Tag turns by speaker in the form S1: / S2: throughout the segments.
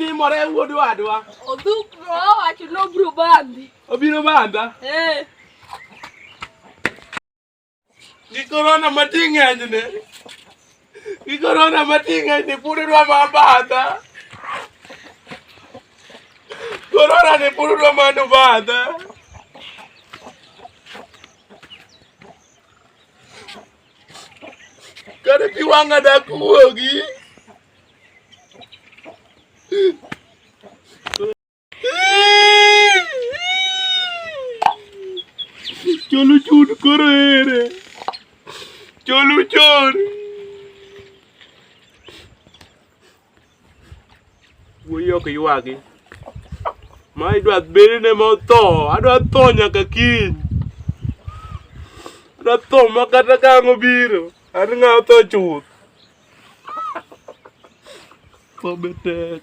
S1: timore wuod wadwa? Odhukro
S2: owacho ni obiro bandhi. Obiro bandha?
S1: Eh. Gi korona mati ng'enyne. Gi korona mati ng'enyne pod idwa ma bandha. Korona ni pod idwa ma no bandha. Kare pi wang'a dak wuogi. Cholu chun koro ere. Cholu chun. Wuoyi ok ywagi. Ma idwa bedne motho, adwa tho nyaka kiny. Adwa tho ma kata ka ang' obiro, an ng'a otho chuth. Tho be tek.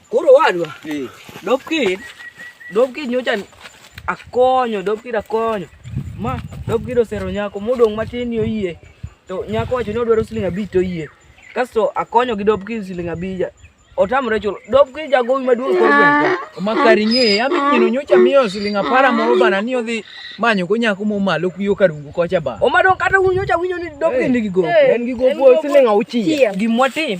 S3: Koro wadwa. Eh. Dopkid, Dopkid nyocha akonyo, Dopkid akonyo. Ma Dopkid osero nyako modong' matin ni oyie. To nyako wacho ni odwaro siling abich to oyie. Kasto akonyo gi Dopkid siling abich. Otamre chulo. Dopkid jagowi maduong' kor gweng'. Makari ng'e,
S4: ami nyino nyocha miyo siling apara moro bana ni odhi manyo go nyako momalo kuyo karungu kocha ba. Omadong' kata un nyocha winjo
S3: ni Dopkid nigi gowi. En gi gopo siling
S4: auchiel. Gimwatim.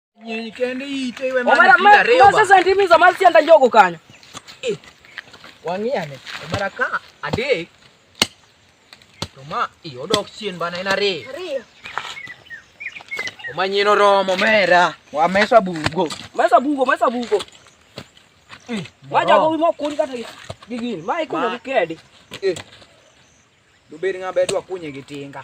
S4: Nyenyekende ite iwe mara kila reo. Omara sasa
S3: ndimi za mali sianda njogo kanya. Eh. Wangiane.
S4: Omara ka ade. Toma iyo dok chien bana ina re. Rio. Omanyino romo mera. Wa mesa bugo. Mesa bugo, mesa
S3: bugo. Eh. Waja go mo kun kata gigin. Mai kuno kedi. Eh.
S4: Dubedi ngabe dwa kunye gitinga.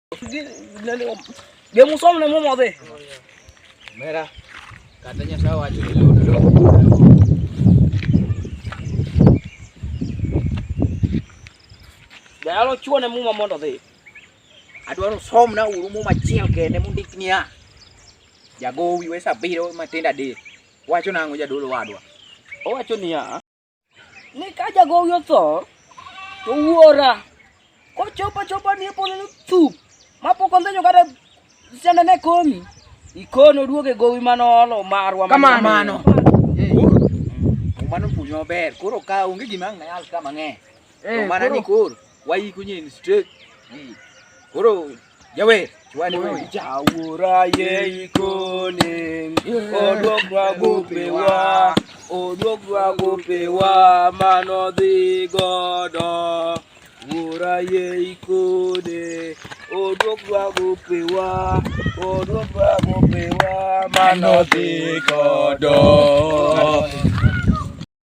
S3: Dia musuh mana mau mati? Merah.
S4: Katanya sawah jadi
S3: Dalo chuo ne muma mondo dhi. Adwaro
S4: som na uru muma chiel kende mundik niya. Jagowi wesa biro matindo adek. Wacho nang'o jadolo wadwa? Owacho niya.
S3: ni ka jagowi otho to wuora kochopo chopo ni polo no chup mapoko ndonyo kata sende ne komi ikono duoge gowi
S4: manolo
S3: marwa kamano mano puonj
S4: maber koro ka onge gima ng'ayal ka mang'eny eh, to mana ni
S3: koro wayikunye
S4: in straight hmm. koro Jawe, chwani wewe chawura ye
S1: ikone. Odwokwa gopewa, odwokwa gopewa mano dhi godo. Wura ye ikone. Odwokwa gopewa, odwokwa gopewa mano dhi godo.